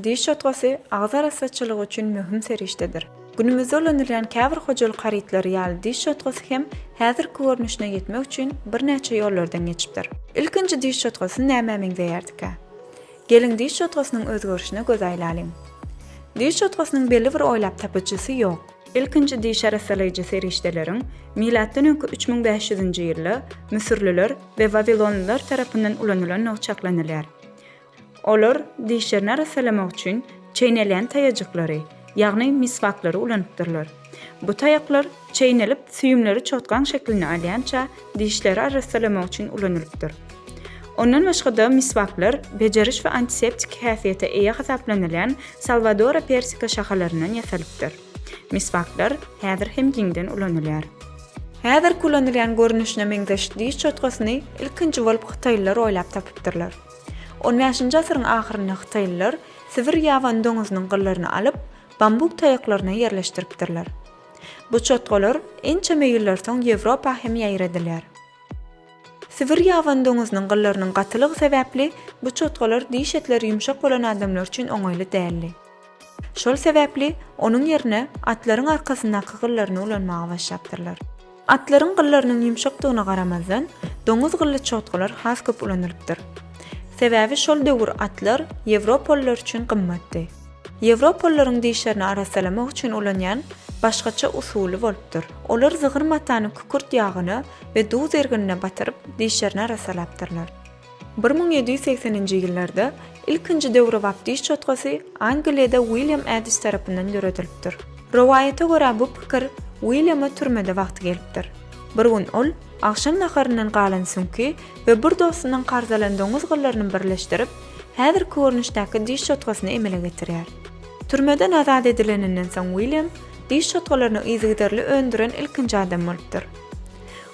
Diş çotgasy agyz arassaçylygy üçin möhüm serişdedir. Günümizde ulanylýan käbir hojalyk harytlary ýaly diş çotgasy hem häzirki görnüşine ýetmek üçin birnäçe ýollardan geçipdir. Ilkinji diş çotgasy nämä meňzeýärdikä? Geliň diş çotgasynyň özgerişine göz aýlalyň. Diş çotgasynyň belli bir oýlap tapyjysy ýok. Ilkinji diş arassalaýjy serişdeleriň milatdan öňki üç müň bäş ýüzünji ýylda müsürliler we wawilonlylar tarapyndan ulanylandygy çaklanylýar. Olar dişlerini arassalamak üçin çeýnelýän taýajyklary, ýagny miswaklary ulanypdyrlar. Bu taýaklar çeýnelip, süýümleri çotgaň şeklini alýança dişleri arrassalamak üçin ulanylypdyr. Ondan başga-da miswaklar bejeriş we antiseptik häsiýete eýe hasaplanylýan Salwadora persika şahalaryndan ýasalypdyr. Miswaklar häzir hem giňden ulanylýar. Häzirki ulanylýan görnüşine meňzeş diş çotgasyny ilkinji bolup hytaýlylar oýlap tapypdyrlar. On bäşinji asyryň ahyrynda hytaýlylar sibir ýabany doňuzynyň gyllaryny alyp, bambuk taýaklaryna ýerleşdiripdirler. Bu çotgalar ençeme ýyllar soň Ýewropa hem ýaýradylýar. Sibir ýabany doňuzynyň gyllarynyň gatylygy sebäpli bu çotgalar diş etleri ýumşak bolan adamlar üçin oňaýly däldi. Şol sebäpli onuň ýerine atlaryň arkasyndaky gyllaryny ulanmaga başlapdyrlar. Atlaryň gyllarynyň ýumşakdygyna garamazdan, doňuz gylly çotgalar has köp ulanylypdyr. Sebäbi şol döwür atlar ýewropalylar üçin gymmatdy. Ýewropalylaryň dişlerini arassalamak üçin ulanýan başgaça usuly bolupdyr. Olar zygyr matany kükürt ýagyna we duz erginine batyryp, dişlerini arassalapdyrlar. Bir müň ýedi ýüz segseninji ýyllarda ilkinji döwrebap diş çotgasy Angliýada Wilýam Edis tarapyndan döredilipdir. Rowaýata görä bu pikir Wilýama türmede wagty gelipdir. Bir gün ol agşam naharyndan galan süňki we bir dostundan karz alan doňuz gyllaryny birleşdirip, häzirki görnüşdäki diş çotgasyny emele getirýär. Türmeden azat edileninden soň Wilýam diş çotgalaryny yzygiderli öndüren ilkinji adam bolupdyr.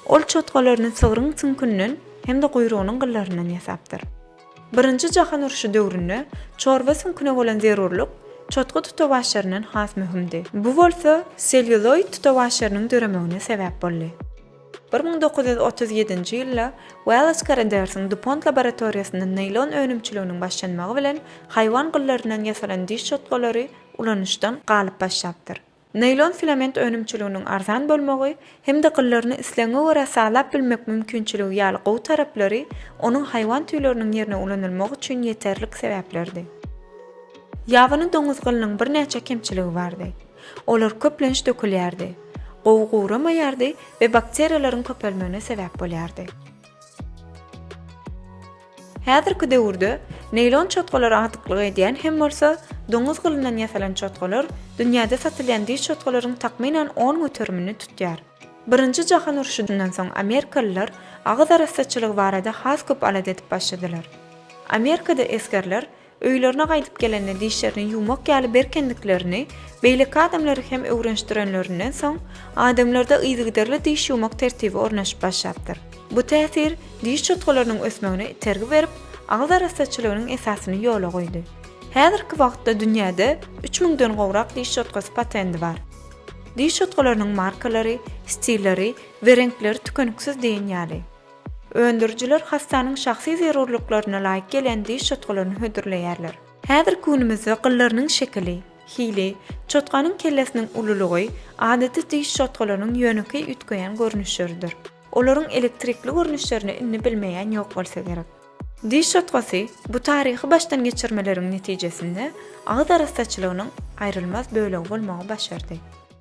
Ol çotgalaryny sygryň süňkünden, hem-de guýrugynyň gyllaryndan ýasapdyr. Birinji jahan urşy döwründe çorba süňküne bolan zerurlyk çotga tutawaçlaryndan has möhümdi. Bu bolsa sellýuloid tutawaçlarynyň döremegine sebäp boldy. Bir müň dokuz ýüz otuz ýedinji ýylda Wallace Caraders-iň DuPont laboratoriýasynda naýlon önümçiliginiň başlanmagy bilen haýwan gyllaryndan ýasalan diş çotgalary ulanyşdan galyp başlapdyr. Naýlon filament önümçiliginiň arzan bolmagy hem-de gyllaryny islegiňe görä salap bilmek mümkinçiligi ýaly gowy taraplary onuň haýwan tüýleriniň ýerine ulanylmagy üçin ýeterlik sebäplerdi. Ýabany doňuz gylynyň birnäçe kemçiligi bardy. Olar köplenç dökülýärdi, gowy guramaýardy we bakteriýalaryň köpelmegine sebäp bolýardy. Häzirki döwürde neýlon çotgalar agdyklyk edýän hem bolsa, doňuz gylyndan ýasalan çotgalar dünýäde satylýan diş çotgalaryň takmynan on göterimini tutýar. Birinji jahan urşundan soň amerikalylar agyz arassaçylygy barada has köp alada edip başladylar. Amerikada esgerler Öýlerine gaýdyp gelende dişlerini ýuwmak ýaly berkendiklerini beýleki adamlara hem öwrenişdirenlerinden soň, adamlarda yzygiderli diş ýuwmak tertibi ornaşyp başlapdyr. Bu täsir diş çotgalarynyň ösmegine itergi berip, agyz arassaçylygynyň esasyny ýola goýdy. Häzirki wagtda dünýäde üç müňden gowrak diş çotgasy patendi bar. Diş çotgalarynyň markalary, stilleri we reňkleri tükeniksiz diýen ýaly. Öndürijiler hassanyň şahsy zerurlyklaryna laýyk gelen diş çotgalaryny hödürleýärler. Häzirki günümizde gyllarynyň şekili, hili, çotganyň kellesiniň ululygy adaty diş çotgalarynyň ýönekeý üýtgeýän görnüşleridir. Olaryň elektrikli görnüşlerini indi bilmeýän ýok bolsa gerek. Diş çotgasy, bu taryhy başdan geçirmeleriň netijesinde agyz arassaçylygynyň aýrylmaz bölegi bolmagy başardy.